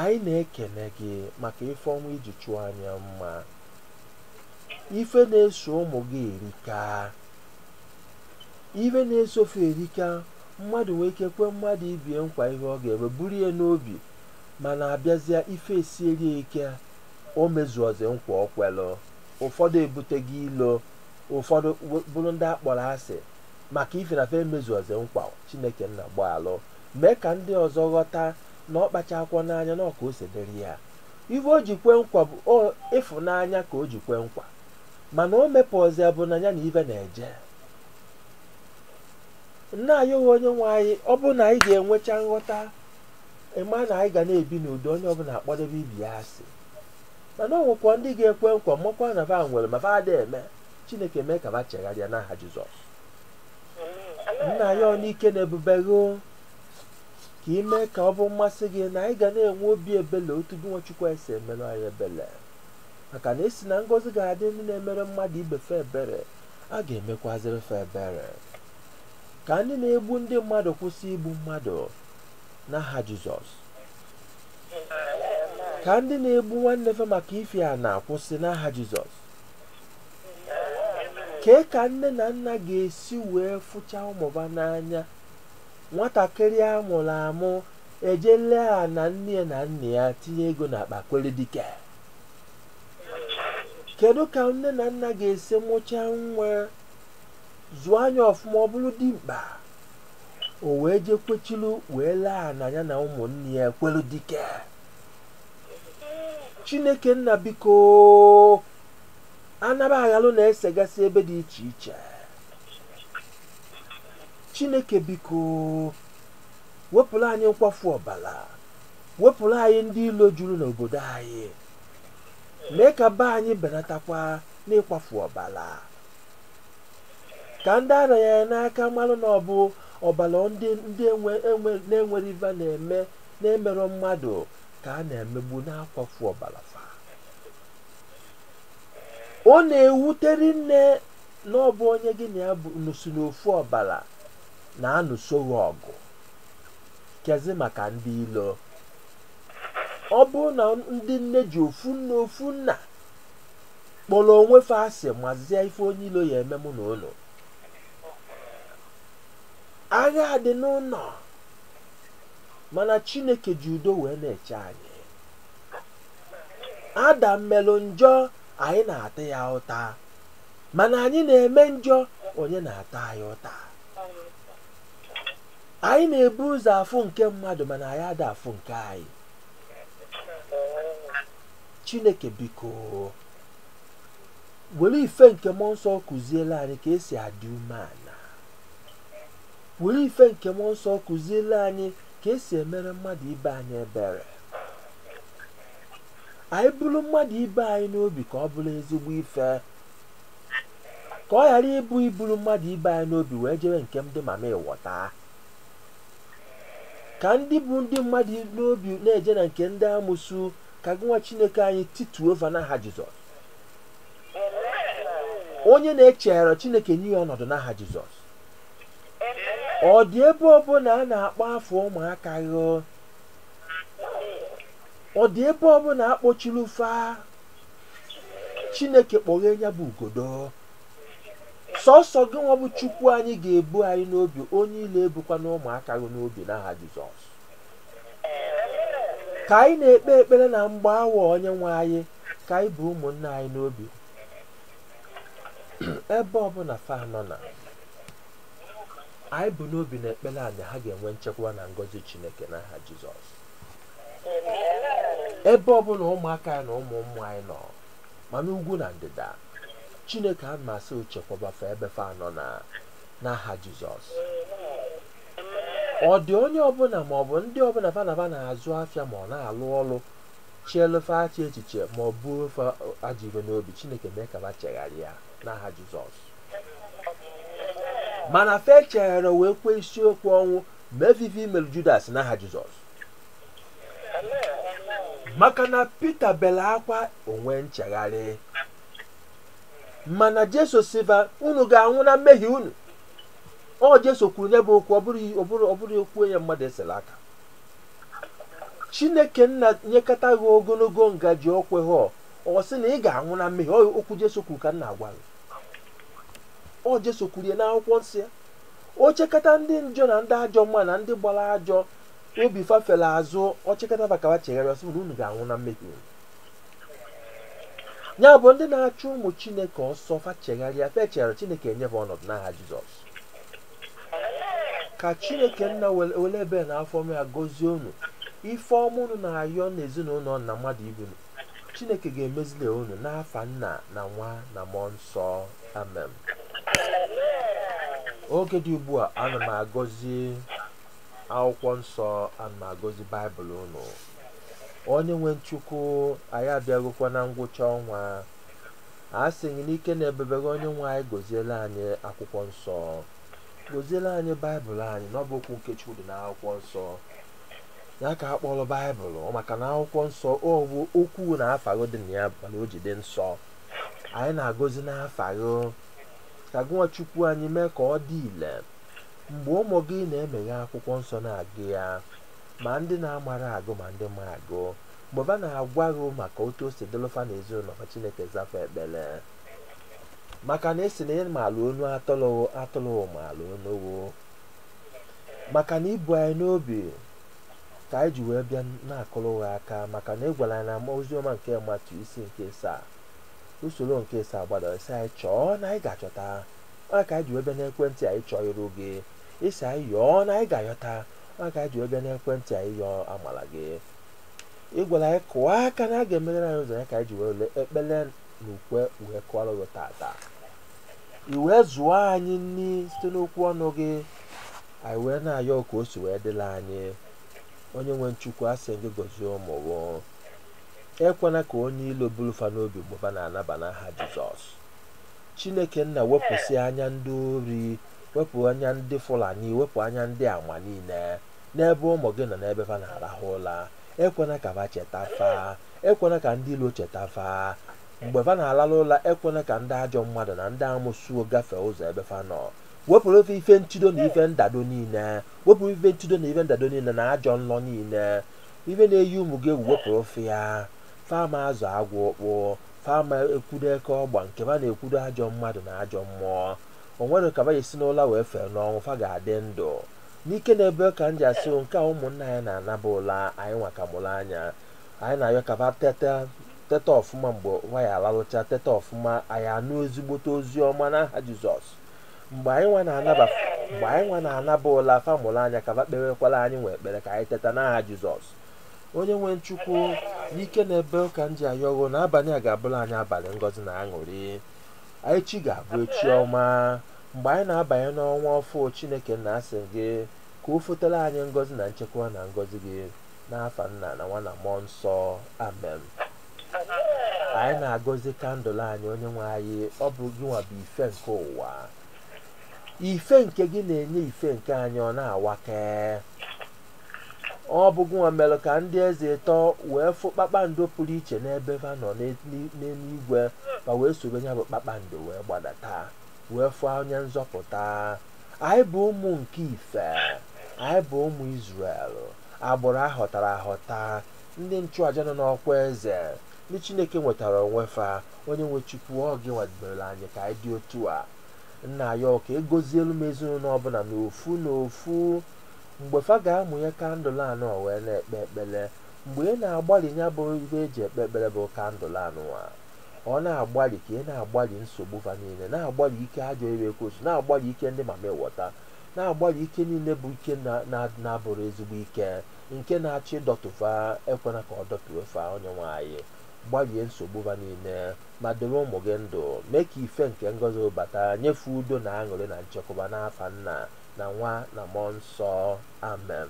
anyị na-ekene gị maka ife ọma i ji chọọ anyị mma ife na-eso ụmụ gị erika ife na-eso fa erika mmadụ nwee ike kwe mmadụ ibe ya nkwa ihe ọ ga-eme buru ya n'obi mana abịazịa ife esieri ya ike o mezuozi nkwa o kwelu ụfọdụ ebutego ilo ụfọdụ we- bụrụ ndị akpọrọ asị maka ife na fe emezuozi nkwa chineke nna gbaalụ mee ka ndị ọzọ ghọta na ọ kpachakwọ n'anya na ọ ka o si dịrị ya ife o ji kwe nkwa bụ o ịfụnanya ka o ji kwe nkwa mana o mepụọzi bụ na ya na ife na-eje nna anyị onye nwe anyị ọ bụ na anyị ga-enwecha nghọta ịma na anyị ga na-ebi n'udo onye ọbụla akpọdebe ibe ya asị mana ọ nwekwa ndị ga-ekwe nkwa makwa na va nwere ma va ada eme chineke mee ka va chegharịa n'aha jizọs nna anyị ọ n'ike na ebube gị o, ka ị mee ka ọ bụ mmasị gị na anyị ga na-enwe obi ebele otu gị nwa chukwu esi emere anyị ebele maka na a sị na ngọzi ga-adị ndị na-emere mmadụ ibe fe ebere a ga-emekwaziri fe ebere ka ndị na-egbu ndị mmadụ kwụsị igbu mmadụ n'aha jizọs ka ndị na-egbu nwanne fa maka ife ana kwụsị n'aha jizọs kee ka nne na nna ga-esi wee fụcha ụmụ va n'anya nwatakịrị a mụrụ amụ ejee lee ana nne ya na nna ya tinye ego n'akpa kwere dike kedu ka nne na nna ga-esi mụchaa nwa zụa nya ọfụma ọ bụrụ dimkpa o wee je kwechilu wee lee ana ya na ụmụnne ya ekwelu dike chineke nna biko anaba aghalụ na-esegasị ebe dị iche iche chineke biko wepụrụ anyị nkwafu ọbala wepụrụ anyị ndị ilo juru n'obodo anyị mee ka be anyị benatakwa n'ịkwafu ọbala ka ndị ara ya ya n'aka malụ na ọ bụ ọbala ndị ndị enwe enwe na-enwerọ ife a na-eme na-emerọ mmadụ ka a na-emegbu na-akwafu ọbala fa ọ na-ewute rinne na ọ bụ onye gị na ya bụ nụ si n'ofu ọbala na-anụso gị ọgụ kezi maka ndị ilo ọ bụ na ndị nne ji ofu nna ofu nna kpọrọ onwe fa asị mazie ife onye ilo ya-eme mụ n'ụlọ agha dị n'ụnọ mana chineke ji udo wee na-eche anyị adam melụ njọ anyị na-ata ya ụta mana anyị na-eme njọ onye na-ata anyị ụta anyị na-ebu ụzọ afụ nke mmadụ mana anyị ada afụ nke anyị chineke biko were ife nke mmụọ nsọ kuziele anyị ka e si adị umeala were ife nke mmụọ nsọ kuziele anyị ka e si emere mmadụ ibe anyị ebere anyị buru mmadụ ibe anyị n'obi ka ọ bụrụ ezigbo ife ka ọ ghara ịbụ iburu mmadụ ibe anyị n'obi wee jere nke ndị mama ịwọta ka ndị bu ndị mmadụ n'obi na-eje na nke ndị amusu ka gị nwa chineke anyị tituo va n'aha jizọs onye na-echegharọ chineke nye ya ọnọdụ n'aha jizọs ọ dị ebe ọbụla a na-akpọ afa ụmụaka gị ọ dị ebe ọbụla a kpọchiri fa chineke kpọghee ya bụ ugodo sọsọ gị nwa bụ chukwu anyị ga-ebu anyị n'obi onye ilo ebukwana ụmụaka gị n'obi n'aha jizọs ka anyị na-ekpe ekpere na mgbe awa onye nwe anyị ka anyị bu ụmụnne anyị n'obi ebe ọbụla fa nọ na anyị bu n'obi n'ekpere a na ha ga-enwe nchekwa na ngọzi chineke n'aha jizọs ebe ọbụla ụmụaka anyị na ụmụ ụmụ anyị nọ ma n'ugwu na ndịda chineke ana m asị chekwaba fa ebe fa nọ n'aha jizọs ọ dị onye ọbụla ma ọ bụ ndị ọbụla fa na fa na-azụ afịa ma ọ na-alụ ọrụ cheelụ fa ajọ echiche ma o bu fa ajọ ife n'obi chineke mee ka fa chegharịa n'aha jizọs mana fa echegharọ wee kwee isiokwu ọnwụ mee va ive mere judas n'aha jizọs maka na pita bere akwa o nwee nchegharị mana jesu sị va unu ga-anwụ na mmehie unu ọ jesu kwuru ya bụ okwu ọ bụrọ okwu onye mmadụ esela aka chineke nna nyekata gị ogologo ngaji ọkwe ha ọ sị na ị ga-anwụ na mmehie ọ okwu jesu kwuru ka m na-agwa gị ọ jesu kwuru ya n'akwụkwọ nsọ ya o chekata ndị njọ na ndị ajọ mma na ndị gbara ajọ obi fafere azụ o chekata va ka va chegharịa ọ sị na unu ga-anwụ na mmehie unu ya bụ ndị na-achụ ụmụ chineke ọsọ fa chegharịa fa echegharọ chineke enye fa ọnọdụ n'aha jizọs ka chineke nna were ebere na afọ ọma ya gọzie unu ife ọma unu na-ayọ n'ezinụlọ na mmadụ ibe unu chineke ga-emezili unu n'afa nna na nwa na mmụọ nsọ amen oge dị ugbu a ana m agọzi akwụkwọ nsọ ana m agọzi baịbụl unu onye nwe m chukwu anyị abịagokwa na ngwụcha ọnwa asị gị n'ike na ebere onye nwe anyị gọziere anyị akwụkwọ nsọ gọziere anyị baịbụl anyị na ọ bụ okwu nke chukwu dị n'akwụkwọ nsọ ya ka a kpọrọ baịbụl maka na akwụkwọ nsọ ọ bụ okwu na afa ghụ dị na ya mana o ji dị nsọ anyị na-agọzi n'afa ghụ ka gụ nwa chukwu anyị mee ka ọ dị ile mgbe ụmụ gị na-emeghe akwụkwọ nsọ na-agụ ya ma ndị na-amarọ agụ ma ndị ma agụ mgbe ba na-agwa gị maka otu o si dịlụ fa n'ezinụlọ fa chineke za fa ekpere maka na ị sị na ị maalụ onu atụlụ ghụ atụlụ ghụ maalụ onu ghụ maka na i bu anyị n'obi ka anyị ji wee bịa na-akụrụ gị aka maka na ị gwara anyị n'oziọma nke matiu isi nke asaa usoro nke asaa gbadara ị sị anyị chọọ na anyị ga-achọta ọ ka anyị ji wee bịa n'ekwentị anyị chọọ iru gị ị sị anyị yọọ na anyị ga-ayọta ọ ka anyị ji wee bịa n'ekwentị anyị yọọ amala gị ị gwara anyị kụọ aka na a ga-emeghere anyị ụzọ ya ka anyị ji were ekpele na ukwe wee kụọrọ gị tata i wee zụọ anyị nri site n'okwu ọnụ gị anyị wee na-ayọ ka o si wee dịlụ anyị onye nwe m chukwu asị gị gọzie ụmụ gị ekwena ka onye ilo bulu fa n'obi mgbe fa na-anaba n'aha jizọs chineke nna wepụsị anya ndị ori wepụ anya ndị fulani wepụ anya ndị ama niile n'ebe ụmụ gị nọ n'ebe fa na-arahụ ụla ekwena ka fa cheta fa ekwena ka ndị ilo cheta fa mgbe fa na-alalụ ụla ekwena ka ndị ajọ mmadụ na ndị amosu gafee ụzọ ebe fa nọ wepụrụ fa ife ntido na ife ndado niile wepụrụ ife ntido na ife ndado niile na ajọ nlọ niile ife na-eyi ụmụ gị egwu wepụrụ fa ya fa ama azọ agwọ ụkpụ fa ama ekwudo eke ọgba nke ba na-ekwudo ajọ mmadụ na ajọ mmụọ o nwerọ ka ba ya-esi n'ụla wee fee n'ọnwụ fa ga-adị ndụ n'ike na ebere ka m ji asị nke a ụmụnna anyị na-anaba ụla anyị nwa ka mụrụ anya anyị na-ayọ ka ba teta teta ọfụma mgbe ba ya-alalụcha teta ọfụma anyị anụ ezigbote ozi ọma n'aha jizọs mgbe anyị nwa na-anaba mgbe anyị nwa na-anaba ụla fa mụrụ anya ka ba kpewekwalụ anyị nwa ekpere ka anyị teta n'aha jizọs onye nwe m chukwu n'ike na ebere ka m ji ayọ ghụ na abalị a ga-abụrụ anyị abalị ngọzi na aṅụrị echi ga-abụ echi ọma mgbe anyị na-abanye n'ọnwa ọfụ chineke nna asị gị ka o fotere anyị ngọzi na nchekwa na ngọzi gị n'afa nna na nwa na mmụọ nsọ amen anyị na-agọzi kandụl anyị onye nwe anyị ọ bụ gị nwa bụ ife nke ụwa ife nke gị na-enye ife nke anyị ọ na-awake ọ bụ gị nwa mere ka ndị eze ịtọ wee fụ kpakpando pụrụ iche n'ebe ha nọ n'eluigwe ma wee sobe ya bụ kpakpando wee gbadata wee fụ onye nzọpụta anyị bụ ụmụ nke ife anyị bụ ụmụ Izrel agbụrụ ahọtara ahọta ndị nchụaja nọ n'ọkwa eze ndị Chineke nwetara onwe fa onye nwe Chukwu ọ gị nwa debere anyị ka anyị dị otu a nna ayọ ka ị gọzielu m ezinụlọ ọbụna n'ofu n'ofu mgbe fa ga-amụnye kandụl anụwa wee na-ekpe ekpere mgbe ị na-agbalị ya bụ ife eji ekpe ekpere bụ kandụl anụwa ọ na-agbalị ka ị na-agbalị nsogbu fa niile na-agbalị ike ajọ ire ekwensu na-agbalị ike ndị mami wọta na-agbalị ike niile bụ ike na- na- na-abụrọ ezigbo ike nke na-achọ ịdọtụ fa ekwena ka ọ dọtụwe fa onye nwe anyị gbalie nsogbu fa niile ma debe ụmụ gị ndụ mee ka ife nke ngọzi bata nye fa udo na aṅụrị na nchekwaba n'afa nna na nwa na mmụọ nsọ amen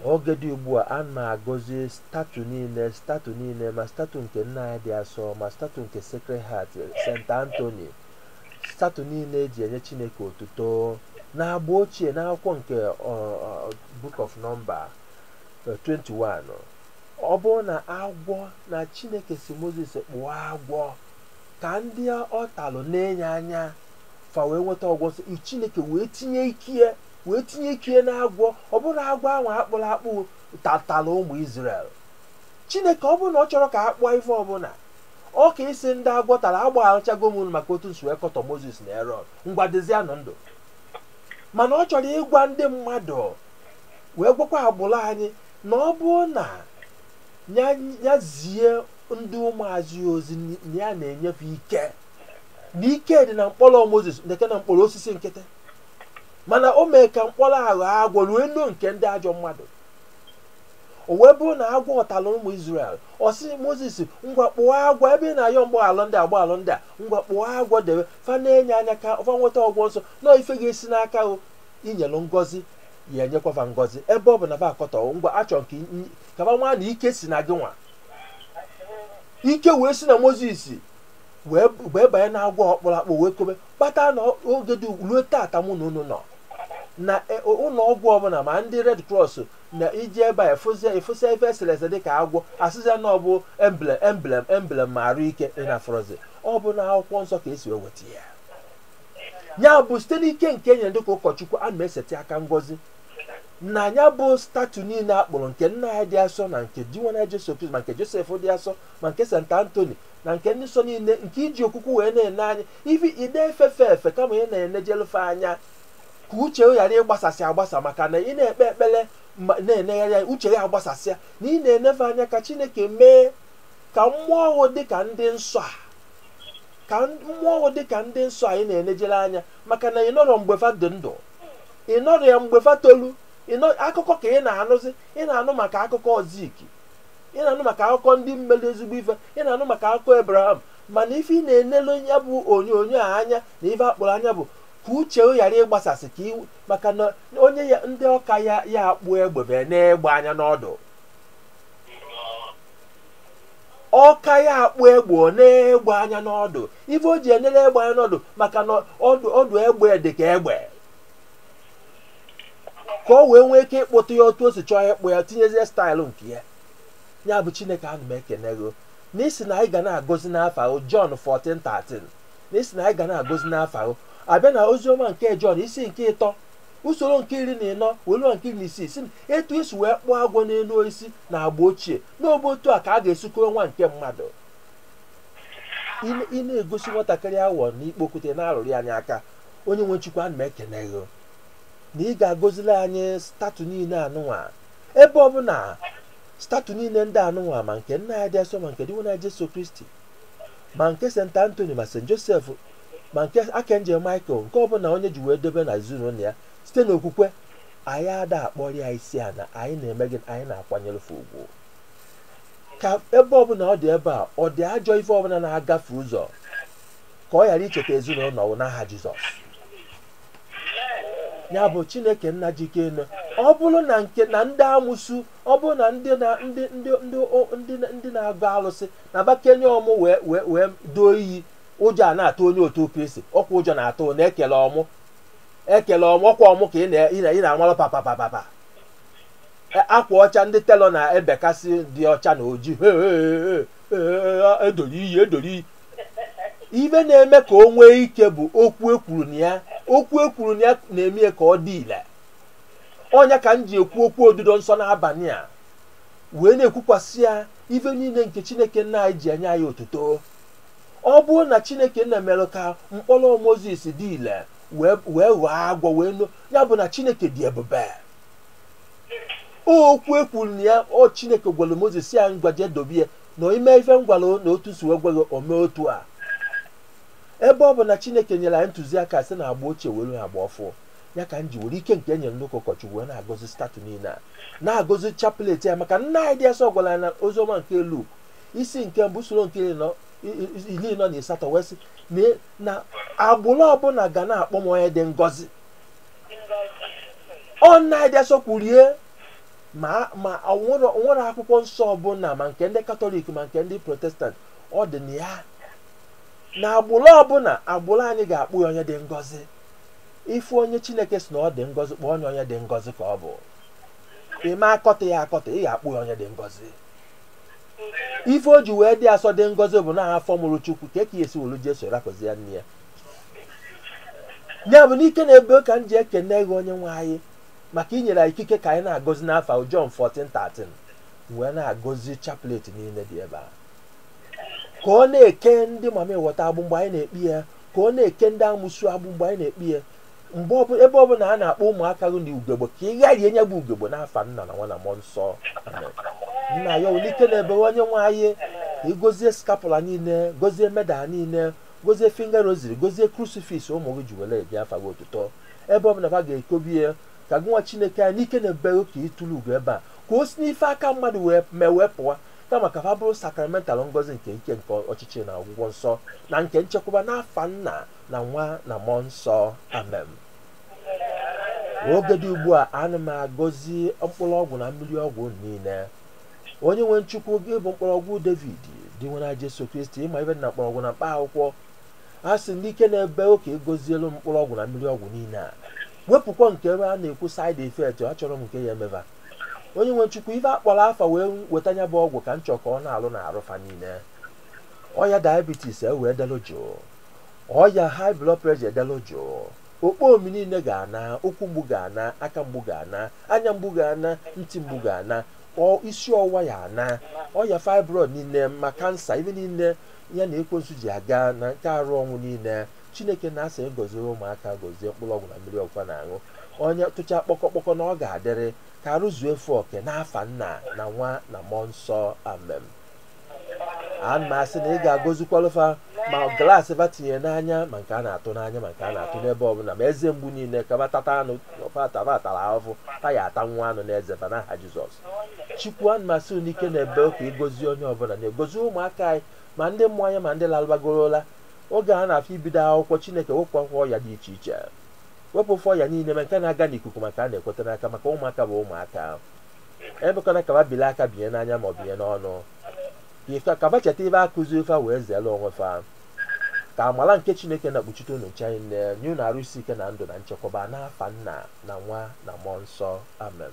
oge dị ugbu a ana m agọzi statue niile statue niile ma statue nke nne anyị dị asọ ma statue nke Sacred Heart St. Anthony statue niile eji enye Chineke otuto n'agba ochie n'akwụkwọ nke ọ, ọ, Book of Number eh, 21 ọ bụrụ na agwọ na Chineke sị Moses kpụọ agwọ ka ndị ọ talụ na-ene ya anya fa wee nweta ọgwọ nsọ chineke wee tinye ikie wee tinye ikie na agwọ ọ bụrọ agwọ ahụ akpụrụ akpụ tatara ụmụ Izrel chineke ọ bụrụ na ọ chọrọ ka a kpụọ ife ọbụla ọ ka ịsị ndị agwọ tara agbaghachago m unu maka otu unu si wee kọtọ Mozis na Erọn ngwa dịzianụ ndụ mana ọ chọrọ ịgwa ndị mmadụ wee gwakwa agbụrụ anyị na ọ bụrụ na ya zie ndị ụmụazụ ya ozi na ya na-enye fa ike na ike dị na mkpọrọ moses dịka na mkpọrọ osisi nkịtị mana o mee ka mkpọrọ a ghọọ agwọ wee noo nke ndị ajọ mmadụ o wee bụrụ na agwọ atala ụmụ israel ọ sị moses ngwa kpụọ agwọ ebe ị na-ayọ m gbaghalụ ndị a gbaghalụ ndị a ngwa kpụọ agwọ debe fa na-ene ya anya ka fa nweta ọgwọ nsọ na ife ga-esi n'aka o nyelụ ngọzi ya enyekwa fa ngọzi ebe ọ bụ na fa akọtọ ngwa achọ m ka fa ma na ike si na gị nwa ike wee si na moses wee wee banye na agwọ ọ kpụrụ akpụ wee kobe kpata na ọ- oge dị ugbu ruo tata mụ na unu nọ na e- o- ụlọ ọgwụ ọbụla ma ndị red cross na i je ebe a ị fụzia ị fụsịa ife esere ese dịka agwọ asịzịa na ọ bụ emblem emblem emblem ma arụ ike ị na-afụrọzi ọ bụ na akwụkwọ nsọ ka esi wee weta ya ya bụ site n'ike nke enyere dịka ụkọchukwu a na-eseti aka ngọzi na ya bụ statue niile a kpụrụ nke nne anyị dị asọ na nke dinwenụ jesu kristi ma nke josef dị asọ ma nke saint anthony na nke ndị nsọ niile nke eji okwukwe wee na-ene anya ifi ị dị efe fa efe kama ị na-enejelu fa anya ka uche ghara ịgbasasị agbasa maka na ị na-ekpe ekpere ma na-enegharị anya uche ya agbasasịa na ị na-ene fa anya ka chineke mee ka mmụọ ọhụụ dị ka ndị nsọ a ka mmụọ ọhụụ dị ka ndị nsọ anyị na-enejere anya maka na ị nọrọ mgbe fa dị ndụ ị nọrọ ya mgbe fa tolu akụkọ ka ị na-anụzi ị na-anụ maka akụkọ zik ị na-anụ maka akụkọ ndị melu ezigbo ife ị na-anụ maka akụkọ ebraham mana ife ị na-enelu ya bụ onyonyo a anya na ife akpụrụ anya bụ ka uche ghara ịgbasasị ka iwu maka na onye ya ndị ọka ya ya akpụ egbe bịa nee egbe anya n'ọdụ ọka ya akpụ egbe ọ nee egbe anya n'ọdụ ife o ji enere egbe anya n'ọdụ maka na ọdụ ọdụ egbe dị ka egbe ka o wee nwee ike ịkpụta ya otu o si chọọ ya ịkpụ ya tinyezie staịlụ nke ya ya bụ chineke ana m ekene gị na ị sị na anyị ga na-agọzi n'afa gị Jọn 14:13 na ị sị na anyị ga na-agọzi n'afa gị abịa na oziọma nke Jọn isi nke ịtọ usoro nke iri na ịnọ welu nke iri na isii sị etu esi wee kpụọ agwọ n'elu osisi na agba ochie n'obe otu a ka a ga-esi kọrọ nwa nke mmadụ ị na-egosi nwatakịrị awọ n'ikpo okwute na-arụrụ ya ya aka onye nwe chukwu ana m ekene gị na ị ga-agozili anyị statu niile anụnwa ebe ọbụla statu niile ndị anụnwa ma nke nne anyị dị asọ ma nke dinwenụ jesu kristi ma nke st antony ma st josef ma nke archangel michael nke ọbụla onye ji wee dobe na ezinụlọ ya site n'okwukwe anyị ada akpọrọ ya isi ana anyị na-eme gịnị anyị na-akwanyere fa ugwu ka ebe ọbụla ọ dị ebe a ọ dị ajọ ife ọbụla na-agafe ụzọ ka ọ ghara icheta ezinụlọ ahụ n'aha jizọs ya bụ chineke nna ji ike niile ọ bụrụ na nke na ndị amụsu ọ bụrụ na ndị na ndị ndị ndị o- ndị na- ndị na-agọ alụsị na-abịa kenye ọmụ wee wee wee doo iyi ụjọ a na-atụ onye otu kristi ọkwa ụjọ na-atụ na ekele ọmụ ekele ọmụ ọkwa ọmụ ka ị na- ị na- ị na-amalụ papa papa papa E- akwa ọcha ndị telọ na-ebekasị dị ọcha na oji He, he, he, he, he, edoro iyi edoro iyi ife na-eme ka o nwee ike bụ okwu ekwuru na ya okwu ekwuru na ya na-eme ya ka ọ dị ile ọ nya ka m ji ekwu okwu odido nsọ n'abalị a wee na-ekwukwasị ya ife niile nke chineke nna anyị ji enye ya otuto ọ bụrụ na chineke nna mere ka mkpọrọ mozis dị ile wee wee ghọọ agwọ wee nụ ya bụ na chineke dị ebube okwu ekwuru na ya ọ chineke gwara mozis ya ngwa jee dobe ya na ime ife m gwara na otu si wee gwa gị ome otu a ebe ọ bụ na chineke nyere anyị ntụziaka si na agba ochie were ha agba ọfụ ya ka m ji were ike nke e nyere nnukwu ụkọchukwu wee na-agọzi statue niile a na-agọzi chaplet ya maka nne anyị dị asọ gwara anyị na oziọma nke Luk isi nke mbụ usoro nke iri nọ- i- i- iri anọ na asatọ wee sị na e- na agbụrụ ọbụla ga na-akpọ m onye dị ngọzi ọ nne anyị dị asọ kwuru ya ma ma ọ nwere ọ nwere akwụkwọ nsọ ọbụla ma nke ndị katọlik ma nke ndị protestant ọ dị na ya na agbụrụ ọbụla agbụrụ anyị ga-akpọ ya onye dị ngọzi ị fụ onye chineke sị na ọ dị ngọzi kpọọ ya onye dị ngọzi ka ọ bụ ime akọta ya akọta ị ga-akpọ ya onye dị ngọzi ife o ji wee dị asọ dị ngọzi bụ na afọ mụrụ chukwu kee ka e si welu jesu rapụzie nne ya ya bụ n'ike na ebe ka m ji ekene gị onye nwe anyị maka i nyere anyị ikike ka anyị na-agọzi n'afa gị Jọn 14:13 wee na-agọzi chaplet niile dị ebe a ka ọ na-eke ndị mami wata agbụ mgbe anyị na-ekpe ya ka ọ na-eke ndị amosu agbụ mgbe anyị na-ekpe ya mgbe ọbụla ebe ọbụla a na-akpọ ụmụaka gị na ugegbe ka ị gbarie nya bụ ugegbe n'afa nna na nwa na mmụọ nsọ Amen. nna ya n'ike na-ebe onye nwe anyị ka ị gozie scapular niile gozie medal niile gozie finger rosary gozie crucifix ụmụ gị ji were ebi afa gị otuto ebe ọ bụla fa ga-ekobe ya ka gị nwa chineke anyị n'ike na-ebeghị ka ị tụrụ ugo ebe a ka o si n'ife aka mmadụ wee mee wee pụa kama ka fa bụrụ sacramental ngọzi nke ike nke ọchịchị na ọgwụgwọ nsọ na nke nchekwaba n'afa nna na nwa na mmụọ nsọ amen oge dị ugbu a ana m agọzi mkpụrụ ọgwụ na mmiri ọgwụ niile onye nwe m chukwu gị bụ mkpọrọgwụ david dinwenụ jesu kristi ị ma ife na mkpọrọgwụ na mkpa akwụkwọ a sị ndị ike na-ebe ka ị gozielu m mkpụrụ ọgwụ na mmiri ọgwụ niile a wepụkwa nke ebe a na-ekwu side effect achọrọ m nke ya emeba onye nwe m chukwu ife a kpọrọ afa wee weta nya bụ ọgwụ ka m chọọ ka ọ na-alụ na arụ fa niile ọya diabetes e wee delụ jụụ ọya high blood pressure delụ jụụ okpo omi niile ga-ana ụkwụ mgbu ga-ana aka mgbu ga-ana anya mgbu ga-ana ntị mgbu ga-ana ọ- isi ọwụwa ya ana ọya fibroid niile ma cancer ịba niile ya ana ekwensu ji aga na nke arụ ọnwụ niile chineke na-asị gozie ụmụaka gozie mkpụrụ ọgwụ na mmiri ọgwụ fa na-aṅụ onye tụcha kpọkọkpọkọ na ọ ga-adịrị ka arụ zue fa oke n'afa nna na nwa na mmụọ nsọ amen ana m asị na ị ga-agọzikwalụ fa ma glass fa tinye n'anya ma nke a na-atụ n'anya ma nke a na-atụ n'ebe ọbụla ma eze mgbu niile ka fa tata anụ taba atara ahụhụ ta ya ata nwa anụ n'eze fa n'aha jizọs chukwu ana m asị n'ike na ebube ka ị gọzie onye ọbụla na-agọzi ụmụaka anyị ma ndị mụ anya ma ndị lalụbagoro ụla oge a na-achọ ibido akwụkwọ chineke wepụ akwụkwọ ọya dị iche iche wepụlụ fa ọya niile ma nke na-aga n'ikuku ma nke a na-ekweta n'aka maka ụmụaka bụ ụmụaka emekwana ka fa bili aka binye n'anya ma ọ binye n'ọnụ mee ka fa cheta ife a kụziili fa wee zere onwe fa ka amala nke chineke na-akpuchite unu nche anyị na-enye unu arụ isi ike na ndụ na nchekwaba n'afa nna na nwa na mmụọ nsọ amen